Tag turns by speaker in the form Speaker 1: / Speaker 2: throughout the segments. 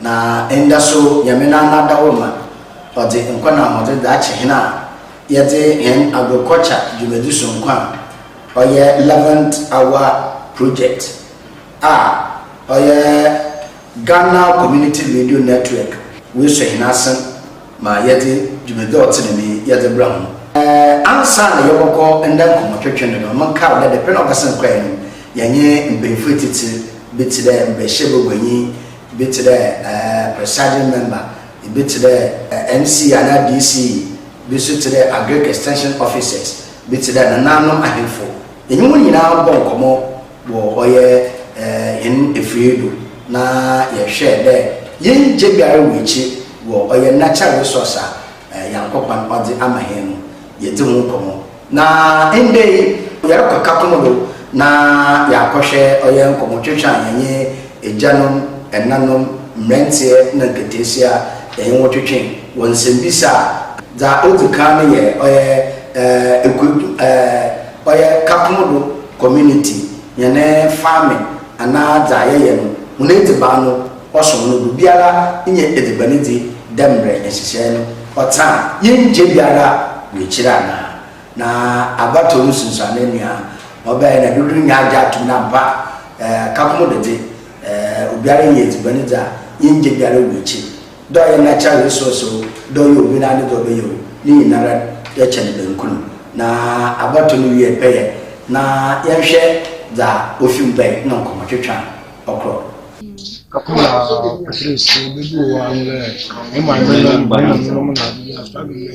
Speaker 1: Na nda so Nyame n'anan da hɔ ma ɔdze nkwa na ahoɔdzen dze akyɛ hɛn a yɛdze hɛn agorkɔkya dwumadzi so nkwa a ɔyɛ Levant Hour Project a ɔyɛ Ghana Community Radio Network wesuo hɛn asen. ma yɛdze dwumadzi a ɔtse dɛm yi yɛdze bra hɔn. Ansaana yɛbɔkɔ nda nkɔmbɔtwetwe no no, monkaa dɛ dapɛn a ɔbɛsen kɔe no, yɛnye mpanyimfo etsitsir bi tse dɛ mbrahyia baguanyi, bi tse dɛ presiding member, bi tse dɛ MC anaa DC, bi so tse dɛ Agric Extension Officers, bi tse dɛ Nananom Ahemfo, yɛnye hɔn nyina bɔɔ nkɔmbɔ wɔ ɔyɛ hɛn efir do na yɛhwɛ dɛ yenngye biara nngu ekyir wɔ ɔyɛ natural resource a Nyankopɔn ɔdze ama hɛn no, yedzi ho nkɔmbɔ. Na ndɛ yi yɛrokɔ Kakum do na yaakɔhwɛ ɔyɛ nkɔmbɔtwetwe a hɛn egyanom, ɛnanom, mberantsɛ na nkataasia a hɛnye hɔn twetwee wɔ nsɛmbisa a dza odzi kan no yɛ ɔyɛ ekuetu. Ɔyɛ Kakmo do community hɛn farming anaa dza yɛyɛ no hɔn edziban no ɔsom no do biara nnyɛ edziban dzi dɛ mbrɛ nhyehyɛɛ no ɔtse a yɛnngye biara wɔ ekyir anaa. Na abatow no sunsuanee no a ɔbae na dodow no nyinaa agye atom dɛ ampa Kakmo do dze obiara yɛ edziban dzi a yɛnngye biara wɔ ekyir. Dɔ a yɛnna kyɛn resource o, dɔ yɛ obi na ne dɔ bɛyɛ o, ne nyinara yɛ kyɛn bɛnkunu. Na abɔto no wiɛ pɛyɛ na yɛnhwɛ dza ofi mu bae na nkɔmbɔtwetwe a ɔkrɔ. Afe na
Speaker 2: ɔtwetwe si, obi bi wɔ hɔ a ano lɛ, ne maame nom, ne maame nom na adze bi a ɔfa bi mɛ.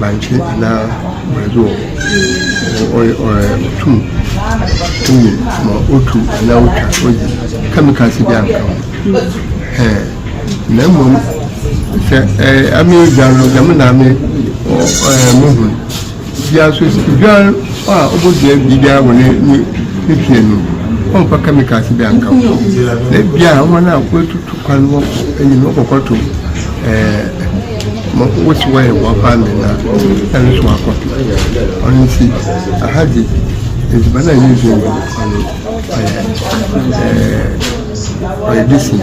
Speaker 3: bankye anaa brɛdoɔ. Ɔyɛ ɔyɛ ɔtum ɛyɛ ma otu anaa otwa oyi kɛmikals bi anka ho. Ɛɛ na mmom sɛ ɛɛ ame dwa no dɛm na ame ɔ ɛɛ mo ho. Dua nso, oduar a obodua biribi biara wɔ ne ne fie no, ɔmmfa kɛmikals biara nka ho. Na ebia hɔn a woetutu kwan hɔ kɔ enyi no, wɔbɔkɔtow ma wosi hɔ yɛ hɔn farming no a, nna no so wɔakɔtow. Ɔno ntsi, aha dze edziban a yedzi no, ɔno ɔyɛ ɔyɛ decent.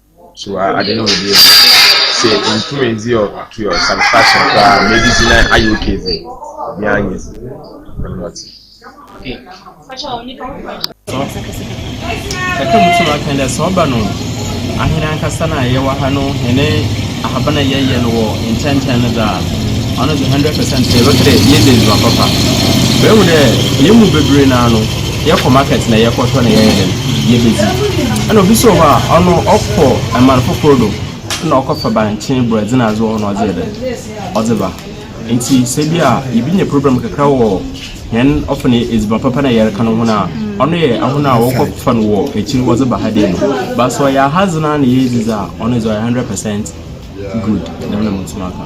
Speaker 4: So a ade no wɔ bi mu? Sɛ ntum ndzi ɔ to your satisfaction koraa ma edidi na ayɛ okay dze, obi ara nyɛ dzi. Dɛm na ɔtse.
Speaker 5: Kakra mu so no ɔakã dɛ, sɛ ɔba no ahen ankasa no a yɛwɔ ha no hɛn ahaban a yɛyɛ no wɔ nkyɛnkyɛn no dze a, ɔno dze hundred percent yɛbɛka dɛ yedzi ndzɛmba papa. Mehu dɛ hɛn mu beberee no ara no. Yɛkɔ market na yɛkɔtɔ na yɛyɛ dɛn? Yebedzi. Nna obi so wɔ hɔ a, ɔno ɔkɔ man fofor do na ɔkɔfa bankye, borɛdze na adze wɔ hɔ na ɔdze yɛ dɛn? Ɔdze ba. Ntsi sɛ bi a yebenya problem kakra wɔ hɛn ɔfa no edziban papa na yɛreka no ho no a, ɔno yɛ hɔn a wɔkɔfa no wɔ ekyir wɔdze ba ha dee no. But sɛ ɔyɛ ahadze no ara na yeridzi dze a, ɔno dze ɔyɛ hundred percent good, dɛm na mutum aka.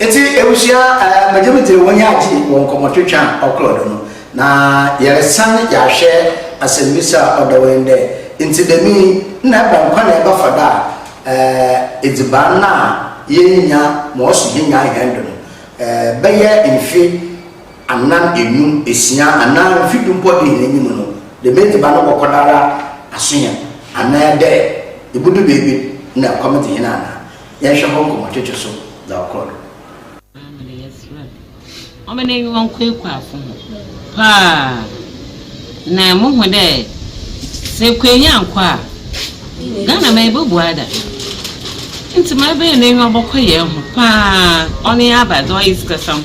Speaker 1: Ntsi ebusua eh, megye me dzin wɔnye agye wɔ nkɔmbɔtwetwe a ɔkɔr do no, na yɛresan yɛahwɛ asɛmbisa a ɔda hɔ yi dɛ, Ntsi dɛm yi, nna ebɛn kwan na yɛbɛfa do a eh edziban no a yerinnya ma ɔso hɛn nyinaa hɛn do no eh bɛyɛ mfe anan, enum, esia, anaa mfe du mpo dze hɛn enyim no, dɛm edziban no bɔkɔ do ara aso hɛn, anaa dɛ ibodu beebi na ɛkɔm dze hɛn anaa? Yɛnhwɛ hɔ nkɔmbɔtwetwe so dza ɔkɔr do. Ɔbaa no na yɛserɛ
Speaker 6: no ɔmba n'enyimba nkwaakwaa fo ho paa. Na muhu dɛ sɛ Ekuenyi annkɔ a, Ghana man yi bobu ada. Ntsi ma ebɛyɛ n'enyiwa bɔkɔ hɛn ho paa, ɔno nye aba dze ɔyɛ sikasɛm.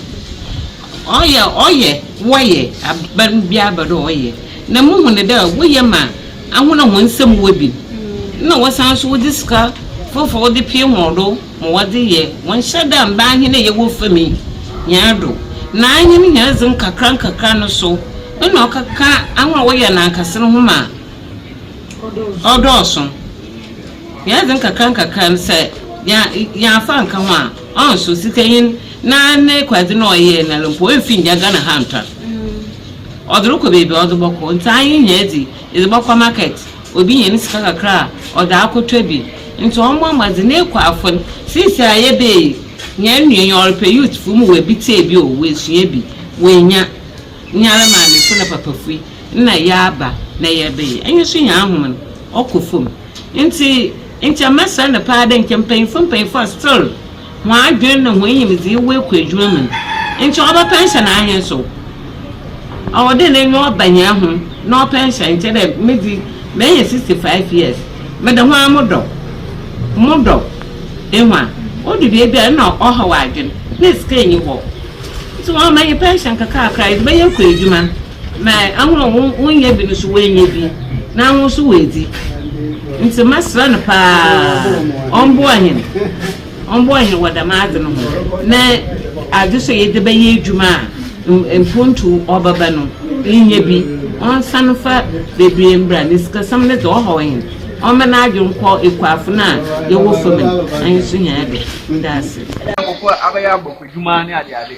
Speaker 6: Ɔyɛ a ɔyɛ, wɔyɛ, aber biara aba do a ɔyɛ. Na muhu no dɛ wɔyɛ ma ahɔn a hɔn nsamu wɔ bi, nna wɔsan so wɔdze sika fofor wɔdze pii hɔn do. ma wɔdze yɛ hɔn hyɛ dɛ mbaa hen a yɛwɔ famu yi nyina do, na hɛn hɛrdze nkakrankakra no so nna ɔkɛkã ahɔn a wɔyɛ anankase no ho ma ɔdɔɔ sõ. Hɛrdze nkakrankakra no, sɛ yɛammfa annka ho a, ɔnnso sikanyin na n'ekwardze no a ɔyɛe no ara mpo, oemmfi nngya Ghana ha anntɔn. Ɔdze rokɔ beebi a ɔdze bɔkɔ, ntsi ahen hɛrdze yi edze bɔkɔ market. Obi nya ne sika kakra a, ɔdze akɔtɔ bi. Ntsi ɔmmbɔ mbɔdzen na ekɔ afon. Sesei a yɛbɛyɛ yi, nyia onnwie yi, ɔrepɛ youthfo mu oebitsie bi o, oesua bi, oenya. Nyara maamefo na papafo yi, nna yɛaba na yɛrebɛyɛ. Emi so nyaa hom no, ɔkɔ famu. Ntsi nkyɛ mɛserɛ no paa dɛ nkyɛ mpanyimfo mpanyimfo a still. hɔn adwen na hɔn nyimdzee wɔ ekuw edwuma mu no, nkyɛ ɔbɛpɛ nhyɛ n'ahenso. Ɔwɔ dɛ n'enyi ɔba hɛn ho na ɔpɛ nhyɛ, nkyɛ dɛ medze menya sixty five years meda ho ara modɔ, modɔ. Ihu a? Odu beebi a nna ɔhaw adwen, na sika nnyi hɔ, ntsi wɔama hɛn pɛnhyɛn kakraakaa a yɛdze bɛyɛ ekuw edwuma. na ahorow a wonnyɛ bi no so woennya bi, na ahorow so woedzi. Ntsi mɛserɛ no paa ɔmboa hɛn, ɔmboa hɛn wɔ dɛm adze no ho, na adze so a yɛdze bɛyɛ edwuma a mpontu ɔbɛba no, yennya bi. Ɔnsan mfa beberee mbra, na sikasɛm no dze, ɔhaw hɛn, ɔmma n'adwen nkɔ ekuafo no a yɛwɔ famu no, na yesuhia do. Meda ase. Nkorɔfo abɛyɛ
Speaker 7: abɔfodwuma ne adeade.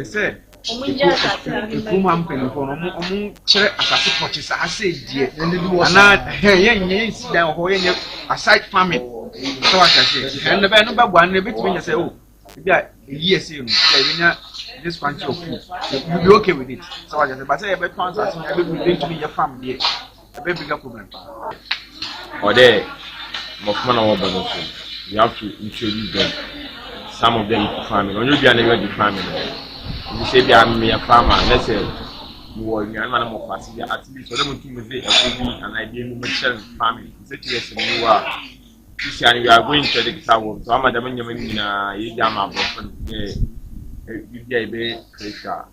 Speaker 7: ɛsɛ ɛkurom ha mpanimfoɔ no ɔmo kyerɛ asase pɔkye sɛ asɛ deɛ anaa hɛn yɛn nyɛ yɛn si dan wɔ hɔ yɛn nyɛ aside farming sɛ wata sɛ hɛn no bɛyɛ no bɛboa no ebɛtumi nyɛ sɛ o oh, ebi a eyi ɛsɛ no sɛ ebi nya this quantity of food you be okay with it sɛ wata sɛ basɛ yɛbɛtɔn asase na ɛbɛbi ebi ntumi yɛ farm deɛ. ɛbɛyɛ bigger problem paa.
Speaker 4: Ɔdɛ mmɔfra na wɔbɔ no so you have to introduce them some of them to farming ɔnyɛ obi a na yɛ di farming no ebi sɛ ebi a mmea farmer ne sɛ wɔ nnuane ma no mɔ paase bi at least ɔdɛ mo ti mo de ɛfo bi anaa ebi enu mo kyerɛ farming sɛ ti yɛ sɛ mo wɔ a sisi a you are going to the guitar world so ama dɛm nneɛma no nyinaa yɛ di ama abɔfra no dɛ ebi a ebe kere hwɛ a.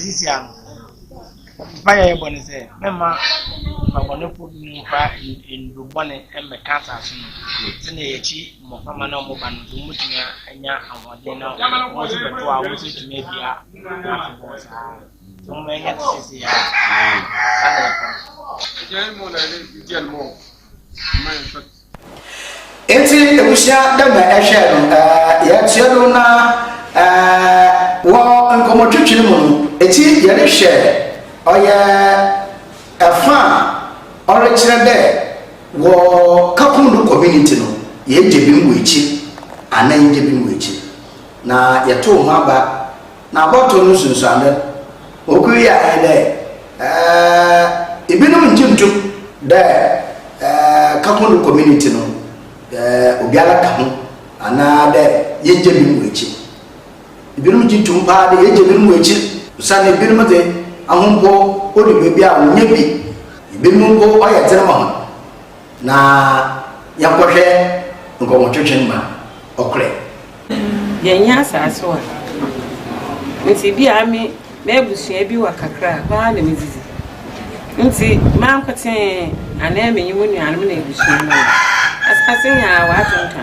Speaker 2: Sisia no, mpaeɛ a yɛbɔ ne sɛ mɛma ɔbɔnefo no mfa nnuro bɔne mmɛka asase no sɛnea yɛkyi mmɔframma na wɔn ba no nso wɔtumi anya ahoɔden na wɔn nso bɛto a wɔn nso tumi adua afebɔɔ saa nti wɔn ɛnyɛ te sɛ sɛ yɛ a saa na ɛkɔ
Speaker 1: no. Ntsi ebusua dɛ mbrɛ ɛhwɛɛ no, yɛtseɛ do na wɔ nkɔmbɔtwetwe no mu no, etsi yɛrehwɛ ɔyɛ fa a ɔrekyerɛ dɛ wɔ Kapundu community no yɛregye binom wɔ ekyir anaa yɛnngye binom wɔ ekyir. Na yɛtoo ho aba Na bɔto no nsunsuando okur yi a nye dɛ, eh, binom nngye nntum dɛ, eh, Kakondo Community no, eh, obiara ka ho anaa dɛ yegye binom ekyir. Binom gye tum paa dɛ yegye binom ekyir osiandɛ binom dze ahombo ɔdu beebi a wonnya bi, binom mpo ɔyɛ dzen ma hɔn. Na yɛnkɔhwɛ nkɔmmɔtwetwe no ma ɔkorɛ.
Speaker 8: Yɛnyɛ asase wa nti bi a me m'abusua bi wa kakra a hɔ ara na midzidzi ntsi mankotsee anaa menye mo nuanom na ebusua no wɔ asase nyinaa wɔ adwen ka.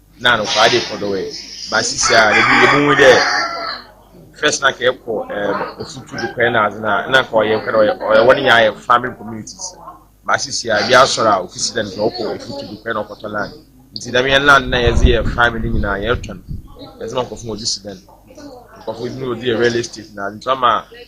Speaker 4: na anokwade kɔ do ɛ ba sisi a ebi ebi mu dɛ first na kɛ kɔ ɛ ofutu do kɔ na adze na na kɔ ɔyɛ kɔ ɔyɛ ɔyɛ wɔn nyɛ ayɛ farming communities ba sisi a ebi asɔr a ofisi dɛ nka ɔkɔ ofutu do kɔ na ɔkɔtɔ land nti dɛm yɛn land na yɛdze yɛ farming ne nyinaa yɛtɔn yɛdze ma nkɔfo wɔn dze si dɛn nkɔfo ebi mu wɔdze yɛ real estate na adze nti ɔma.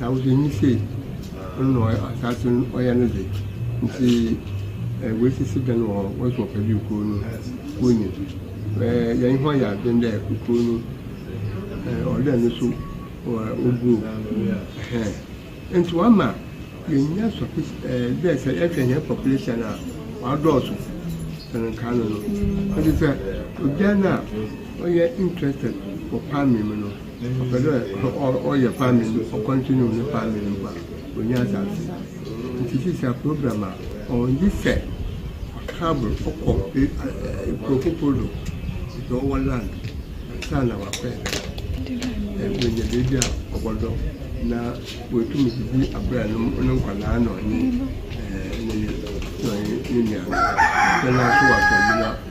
Speaker 3: Na wo deɛ nyi sei, ɔno na ɔyɛ asaase no ɔyɛ no de, nti eh, wɔasisi dan wɔ hɔ, wɔso wɔpɛ bi kurow no wonyi. Eh, yɛn ho ayɛ adwen dɛ kurow no eh, ɔdɛ no so wɔ oguo. Ɛhɛn. Nti wama yɛnya sɔfis eh, dɛ sɛ yɛhwɛ yɛn population a, wadɔɔso sɛn nkaa no no. Nti sɛ obiara no a ɔyɛ interested wɔ farming mu no, ɔpɛ dɛ ɔyɛ farming no ɔ continue ne farming no a onnya asaase ntsi sisi a program a ɔwɔ nye sɛ ɔ travel ɔkɔ kurow fofor do dza ɔwɔ land ansaana ɔakɔ yɛ dɛm oenya beebi a ɔbɔdɔ na oetum dze bi abrɛ no nkwadaa na ɔnye ne yer na ɔnye no nuanom.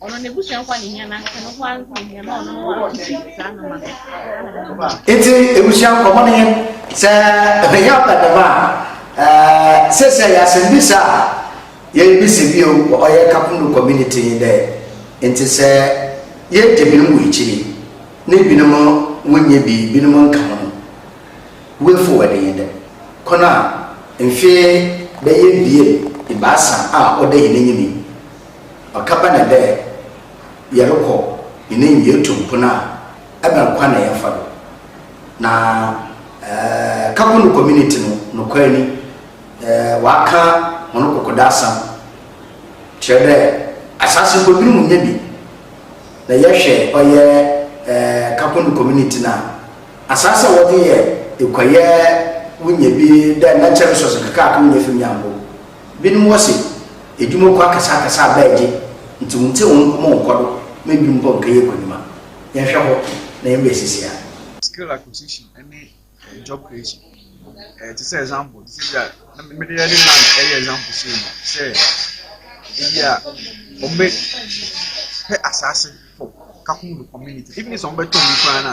Speaker 9: Ɔno
Speaker 1: n'abusua nkwa ne hia nanka no ho anka hia na ɔno no ho akɔsi saa no ma no. Nti abusua nkɔmɔ no yɛ sɛ ɛbɛyɛ abɛdɛm a sɛ sɛ yɛ asɛmbisa a yɛbisa bio wɔ ɔyɛ Kapundo community yi dɛ nti sɛ yɛgye binom wɔ akyiri na binom wonyɛ bi binom nka ho no way forward yɛ dɛ kɔn a mfe bɛyɛ bie ebaasa a ɔda yɛn anim yi Ɔka ba na dɛ yɛrokɔ nyenae mu yetu mpon a, ebɛn kwan na yɛmfa do? Na Kakunu community no, nokwar ni, wɔakã hɔn kɔkɔdo asɛm, kyerɛ dɛ asaase mpo binom nnya bi. Na yɛhwɛ ɔyɛ Kakunu community no a, asaase a wɔdze yɛ ekuayɛ wonya bi dɛ Nantsery Source nkakrankra wonya fi Miambo, Binom wɔ se, Edwuma kwa akɛseakɛse a bɛɛgye ntsi wonntse hɔn nkɔmbɔ nnkɔ do ma binom mpo nnkɛyɛ ekonyima. Yɛnhwɛ hɔ na yɛmba esisi ha. Skill
Speaker 7: acquisition ne job creation te sɛ example te sɛ bi a na mede yɛde land ɛyɛ example sei no sɛ ebi a wɔn bɛ pɛ asaase for kakun community even sɛ wɔn bɛ tɔn mu koraa na.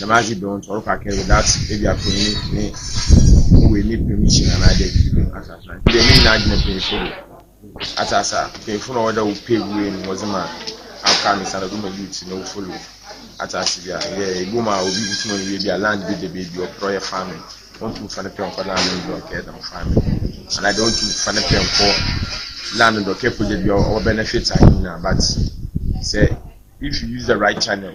Speaker 4: dɛm adze do no ɔrokɔ akɛyɛ without ebi a panyin ne ne wei ne permission anaa dɛ biribi no atse ase ntsi dɛ ne nyinaa gyina mpanyinfo do atse ase a mpanyinfo na ɔwɔ dɛ wɔpɛ wei no wɔdze ma aka no san do ma youth no follow atse ase bi a yɛ ebom a obi botum ɔyɛ bi a land bi da beebi ɔpɛ ɔyɛ farming ɔntum fa ne pɛ nkɔ land no do ɔkɛyɛ dɛm farming anaa dɛ ɔntum fa ne pɛ nkɔ land no do ɔkɛyɛ project bi a ɔbɛnefit anyi nyinaa but sɛ if you use the right channel.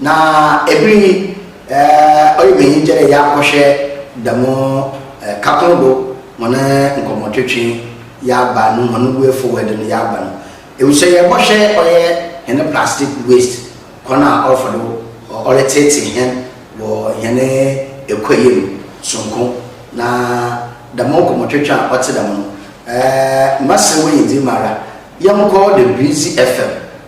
Speaker 1: Na ber yi ɔyɛ me enyigye dɛ yɛakɔhwɛ dɛm Kakõ do hɔn nkɔmbɔtwetwe, yɛaba no hɔn way forward no yɛaba no. Ebusua yɛbɔhwɛ ɔyɛ hɛn plastic waste kwan a ɔrfa do ɔretseetsee hɛn wɔ hɛn ekuayɛ mu soronko na dɛm nkɔmbɔtwetwe a ɔtse dɛm no mɛserɛ wo nyimdzee mu ara yɛnkɔ the Breezy FM.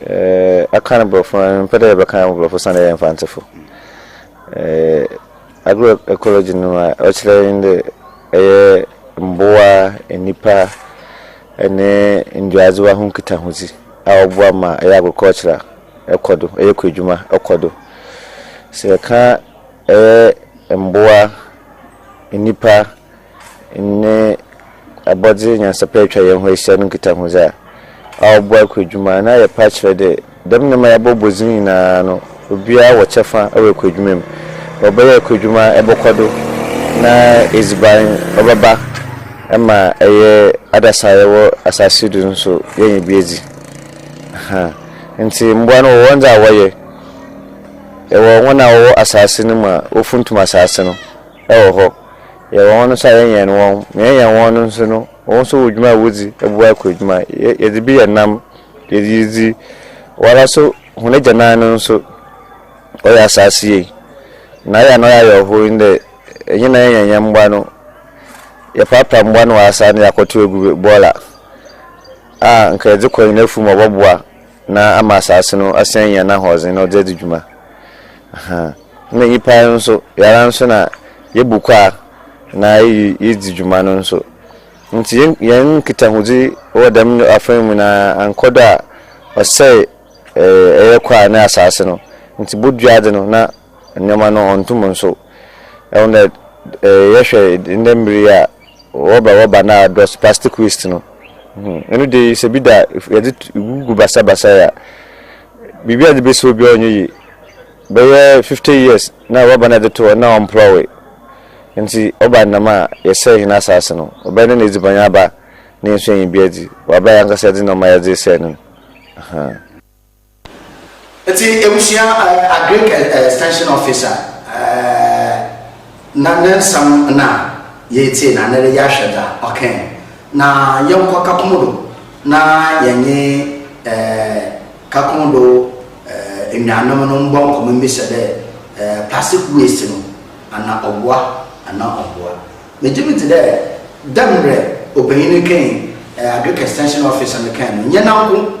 Speaker 1: Eh,
Speaker 10: aka no borɔfo no, mempɛ dɛ yɛbɛka no borɔfo san dɛ yɛ mfantsefo. Eh, agroecology no ma ɔkyerɛ nye dɛ ɛyɛ mbowa, nnipa ne nduadzewa ho nkitahodzi a ɔboa ma ɛyɛ agriculture a ɛkɔ do, ɛyɛ kuadwuma ɔkɔ do. Sɛ yɛka ɛyɛ mbowa, nnipa nye abɔdze nyansapɛ etwa hɛnho ehyia no nkitahodzi a, aɔbɔ aɔkɔ edwuma. Na yɛpɛ akyerɛ dɛ dɛm ndzɛmba a yɛabɔbɔ dzin nyina no, obiara wɔ kyɛfa wɔ aɔkɔ edwuma mu. Na ɔbɛyɛ aɔkɔ edwuma a, ebɔkɔ do na edziban ɔbɛba ma yɛ adasa a yɛwɔ asaase do no so yenya bi edzi. Ahaa. Ntsi mbowa no wɔwɔ ndza a wɔyɛ. Yɛwɔ hɔn a wɔwɔ asaase no mu a wofuntum asaase no. wɔ hɔ, yɛwɔ hɔn so a yɛnyɛn hɔn, na yɛnyɛn hɔn no so no, hɔn so wɔ dwuma a wodzi, boa kor edwuma, yɛdze bi yɛ nam, yɛdze yi dzi, woara so hɔn egyanan no so ɔyɛ asaase yie, na ayɛ a na ɔyɛ awerɛhow nye dɛ enye na yɛnyɛn hɛn mboa no, yɛprapra mboa no wɔ asaase no do dze akɔtow egu bɔɔla a nka yɛdze kɔ hɛn efuw mu a ɔbɔboa. Na ama asaase no asan enya n'ahoɔdzen na ɔdze edzi dwuma. Ahaa. Nna nyimpa no so, yɛara so na yebu kwaa na yedzi dwuma no so. Ntsi hɛn nkitahodzi wɔ dɛm afã yi mu no annkɔ do a, ɔsɛɛ ɛyɛ kwaa ne asaase no. Ntsi boduadze no na. Nneɛma no ɔnntom nso. Ɛho na yɛhwɛ ndɛ mber yi a wɔba wɔba na adɔs plastic waste no eno de sɛ bi da yɛdze gugu basa basa a biribi a yɛdze besi hɔ bia ɔnnyɛ yie bɛyɛ fifty years na rɔba na yɛdze to hɔ na ɔmmprɔwee ntsi ɔba no dɛm a yɛsɛɛ hɛn asaase no ɔbɛyɛ dɛn na edziban aba na hɛn so enya bi edzi wɔ aber a yɛankasa yɛdze nɔɔma yɛdze resɛɛ no no ahaa.
Speaker 1: Enti ebusua Agric Extension Officer na ne nsɛm na yeetsie na ndɛ yɛahwɛ dza ɔkãe. Na yɛnkɔ Kakum do na yɛnye Kakum do enuanom no mbɔ nkɔmbɔ mbisa dɛ plastic waste no ana ɔboa anaa ɔmmboa. Megye medzi dɛ dɛ mbrɛ obanyin no kãe, Agric Extension Officer no kãe no, nnyɛ nanko.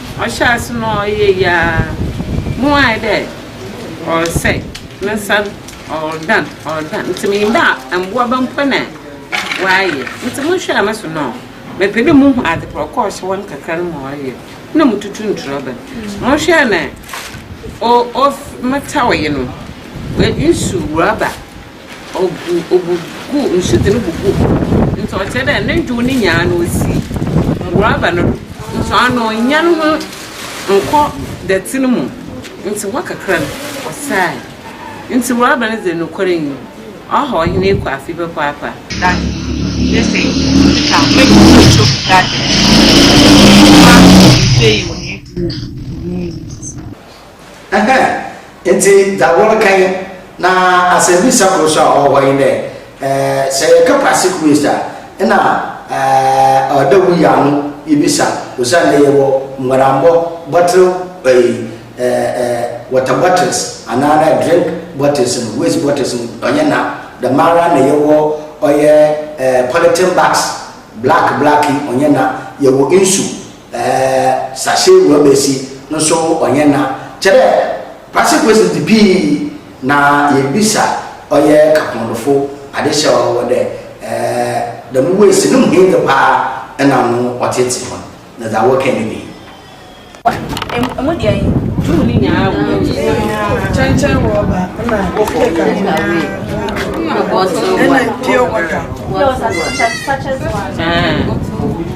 Speaker 8: Ɔhyɛɛ ase no ɔyɛ yiaa mu ayɛ dɛ ɔresɛe, ne nsa no ɔredan ɔredan ntsi mennyim dɛ mboaba mpo na ɔayɛ ntsi mohwɛɛ no so no mepɛ dɛ muhu adze kor a ɔkɔ ɔhyɛ hɔ no kakra no ma ɔyɛ na mututu ntorɔban mohwɛɛ no o o metawee no nsu rɔba Ɔgu obu gu nsu dze no bu gu hɔ. Ntsi ɔkyerɛ dɛ no ndwow no nyina no osi rɔba no do. Nso ano onnya no ho nnkɔ dɛtse no mu. Ntsi hɔ kakra no ɔsɛɛe. Ntsi rɔba no dze nokwar nye mu ɔhaw hɛn ekuafo yi papaapa. Garden
Speaker 11: ne se nka mɛgye photo garden. Nneɛma bebree wɔ yɛn dwumadie yi mu.
Speaker 1: Ɛhɛɛ, ntsi dza wɔreka nye, na asɛmbisa kor so a ɔwɔ hɔ nye dɛ, sɛ yɛka Pacific Waste a, nna ɔwɔ dɛ woyi ano ibisa osiandɛ yɛwɔ mbuarambɔ bɔttle eyi water bottles anaa dɛ drink bottles no, waste bottles no ɔnnyɛ na, dɛmara na yɛwɔ ɔyɛ polythene bags, black black yi ɔnnyɛ na, yɛwɔ nsu. Ɛɛ sase wɔ bɛsi nso ɔnyɛ na kyɛdɛ pase questions di pii na yɛ bisa ɔyɛ kapɔndofo ade hyɛ ɔ wɔ dɛ ɛɛ dɛm ways no mu he de paa ɛna no ɔtete fon na dza wɔ kɛ ne bi. Emu deɛ he
Speaker 12: tuu ne
Speaker 8: nyinaa
Speaker 13: wɔ hɔ. Kyɛnkyɛn rɔba na cake nyinaa. Ɛna pure water. Sachets
Speaker 12: one.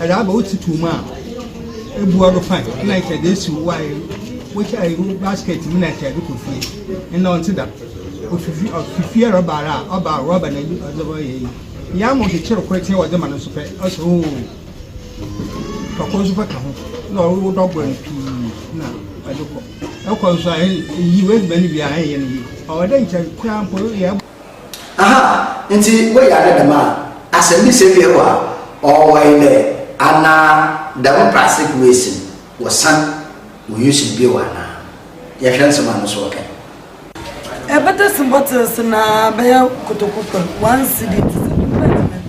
Speaker 2: Ɛdze aba wo tsitow mu a, ebua do fine nna nkyɛ edze esi wo ae wo ae wo basket mu na nkyɛ edze kɔ fie. Ndɛ ɔnntse dɛm. Ofi fie ɔfi fie reba ara a ɔba a rɔba na ɔdze reyɛ iyi. Iyi ama ɔkyekyer kor tse a wɔdze ma no so pɛ ɔse ooh. Fa kor so fa ka ho na ɔwo wo dɔbor no pii na ɔdze kɔ. Ekɔ so a iyi w'edziban wie a ennyɛ no yie. Ɔwɔ dɛ nkyɛ koraa mpo eyɛ.
Speaker 1: Aha ntsi wo yar no dɛm a, asɛmbisa wie hɔ a, ɔwɔe dɛ ana dɛm prasek wesi no wɔsan wɔ use no bio anaa? Yɛhwɛ nsɛm a no so ɔkã yi.
Speaker 13: Ebɛtase bottles na bɛyɛ kotoku kor, one cedi tse dɛ. Ɔbɛtse dɛn?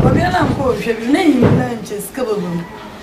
Speaker 13: Ɔbea no annkɔ ɔhwɛ bio, n'enyi nyina nkyɛ sika bɔbɔ mu.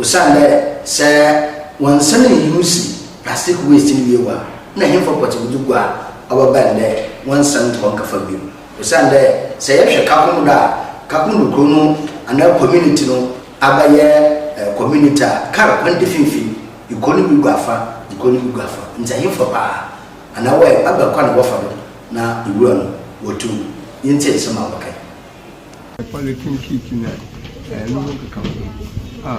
Speaker 1: Osiandɛ sɛ wɔnnsan nnwuusi plastic waste no wie wɔ a, nna henfa pɔtse wɔdze gu a, ɔbɛba ndɛ wɔnnsan nnkɔ nnkɛfa bio. Osiandɛ sɛ yɛhwɛ Kakum do a, Kakum do kurow no anaa community no abɛyɛ community a kaar kwan da finimfin, ikuo no bi gu afa, ikuo no bi gu afa, ntsi henfa paa anaa wɔyɛ aber kwan a wɔfa do na nwura no wɔtum? Yentsie nsɛm a wɔkã yi Polythene
Speaker 3: sheet na ɛno ho nkekaho a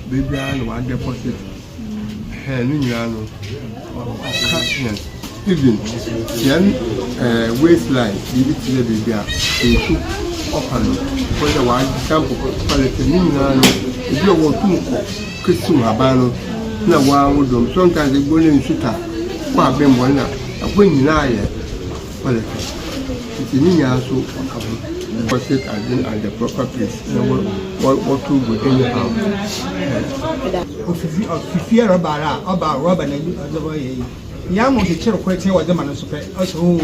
Speaker 3: biribiara na wɔadeposit hɛn no nyinaa no ɔka hɛn even hɛn ɛɛ waste line biribi te dɛ biribi a nsu ɔfa no wɔn dɛ wɔadump polythene ne nyinaa no ebi a wɔtum kɔ kesiw haban no na wɔawodɔm sometimes ebi wɔ dɛ nsu ta kɔ abɛn mu hɔ na ɛhɔ nyinaa yɛ Politics nti ne nyinaa nso ɔka ho. Because it has been at the proper place na wɔ wɔ wɔto gu anyhow. Ofifi ofifie rɔba ara a ɔba rɔba na yi ɔdze bɔ yɛ yi yɛ ama ɔkyekyere kor tse wɔdze ma no nso pɛ ɔsɛ oo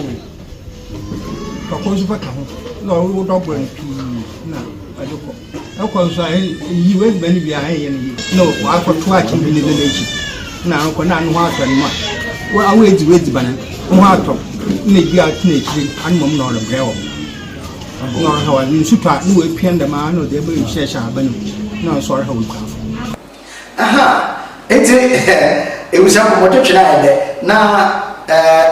Speaker 3: fa kor nso fa ka ho na ɔwɔ dɔbor no pii na ɔdze kɔ. Ɛkɔ so a, yiw, adwuma no biara ɛnyɛ no yiye. Na wakɔtoa akyinnyegye no de no akyi. Na ano kɔ na ano ho atɔ no mu a, wo a woedzi w'edziban no, wo ho atɔ wo, na bi a ɔtse n'ekyir ano mbom na ɔrebrɛ wo, na ɔrehaw adze. Nsu tɔ a, na oepia ndɛmara na ɔdze aba nsu hyɛhyɛ ahaban mu, na ɔno so ɔrehaw ekuafo. Ahaa,
Speaker 1: ntsi ebusuafo motwetwe no ayɛ dɛ na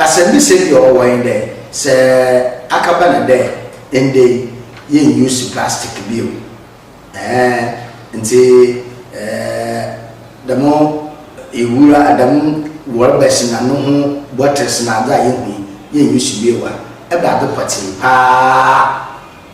Speaker 1: asɛmbisa bi a ɔwɔ hɔ nye dɛ, sɛ akaba no dɛ ndɛ yi yennuse plastic bio ɛɛn ntsi dɛm ewura dɛm rɔbɛs na no ho bɔtels na adze a yehu yi yennuse bio a, ebɛnadze pɔtsee paa?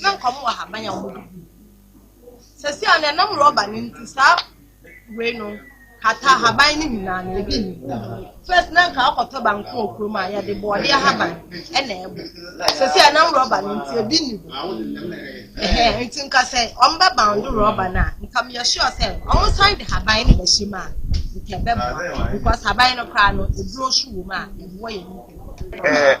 Speaker 11: na nka ɔmo wɔ ahaban a ɔmo de gu mu. Sɛsi a no ɛnam rɔba no nti saa wei no kata ahaban no nyinaa no ebi nni mu. Fɛs na nka akɔtɔ banku wɔ kurom a yɛde bɔɔde ahaban ɛna ɛbɔ. Sɛsi a ɛnam rɔba no nti ebi nni mu. Ɛhɛn nti nka sɛ ɔmo bɛ bando rɔba no a nka meyɛ sure sɛ ɔmo san de haban no bɛhyɛ mu a nka ɛbɛboa because haban no koraa no eduro so wɔ mu a ɛboa yɛn nipadua.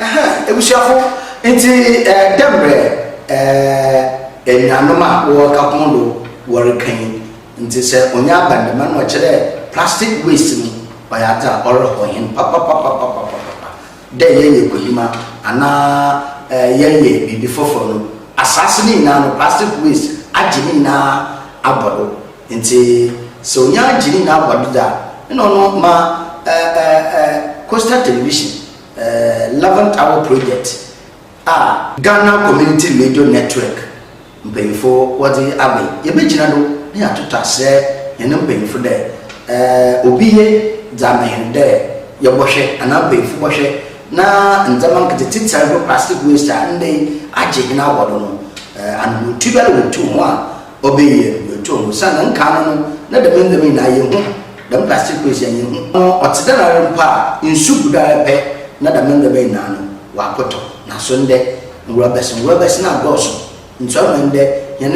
Speaker 6: Ahaa ebusuafo
Speaker 1: ntsi dɛ mbrɛ enuanom a wɔwɔ Kapono do wɔrekã yi ntsi sɛ onya aba ndɛm a nna ɔkyerɛ dɛ plastic waste no ɔyɛ adze a ɔrehɔ hɛn papapapapapapa dɛ yɛyɛ kohima anaa yɛyɛ biribi fofor no asaase ne nyinara no plastic waste agye ne nyinara abɔ do. Ntsi sɛ onya gye ne nyina bɔn dze a, nna ɔno ma Coastal Television Eleventh Hour Project a, Ghana Community Radio Network mpanyimfo wɔdze aba yi, yebegyina do na yɛatoto aserɛ hɛn mpanyimfo dɛ obi ye dze ama hɛn dɛ yɛbɔhwɛ anaa mpanyimfo bɔhwɛ na ndzɛmba nketse tse tsɛrbo plastic waste a ndɛ yi agye hɛn awɔw do no, anohotuba a wotu ho a Ɔbɛyɛ bɛtɔ mu sɛ na nka ano no na dɛm ndɛm nyinaa yɛhu, dɛm plastic waste yɛ yɛhu. Ɔte dɛn ara mpo a, nsu gu do ara pɛ na dɛm ndɛm nyinaa no wɔakɔtɔ. Naaso ndɛ, nworɔbɛs nworɔbɛs no adɔɔso, nso ama ndɛ hɛn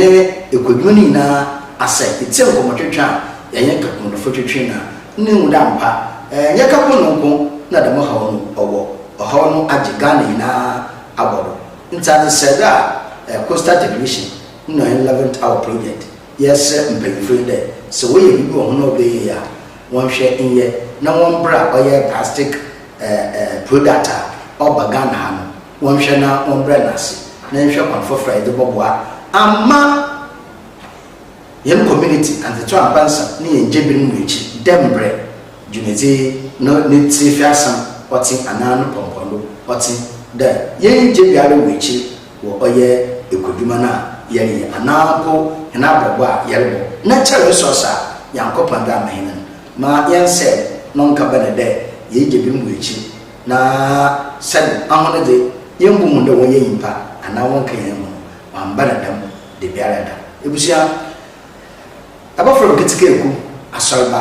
Speaker 1: ekwadwuma no nyinaa asɛɛ. Itsie nkɔmbɔtwetwe a yɛnye kaponnofo twetwe no a, nna ihu dɛ ampa, nnyɛ kapon no nko na dɛm haw no ɔwɔ, ɔhaw no agye Ghana nyinaa abɔ do. Ntsi adze sɛɛ do a, coastal generation Huna Eleventh Hour Project yɛsrɛ mpanyimfo yi dɛ sɛ wɔyɛ biribi wɔ ho na ɔbɛyɛ yie a, wɔnhwɛ nyɛ na wɔmbra ɔyɛ plastic product a ɔba Ghana ha no, wɔnhwɛ na wɔmbrɛ no ase na yɛnhwɛ kwan fofor a yɛdze bɔboa amma hɛn community, Antsetsew Ampansam ne hɛn gyebir no mu ekyir dɛ mbrɛ dwumadzi yi no ne tsiefɛasɛm ɔtse anaa no pɔmpɔndo ɔtse dɛ yɛnngye biara wɔ ekyir. wɔ ɔyɛ ekwadwuma no a yɛreyɛ anaa mpo hɛn abrabɔ a yɛrobɔ na kyɛr resource a Nyankopɔn dze ama hɛn no, ma yɛnsɛɛ No nkabana dɛ yeegya binom wɔ ekyir na sɛn ahɔn dze yemmbohu dɛ wɔnnyɛ nyimpa anaa wɔnnkã hɛn ho no, wɔammba no dɛm dabiarada. Ebusua, abofra bi ketsekaa ku asɔrba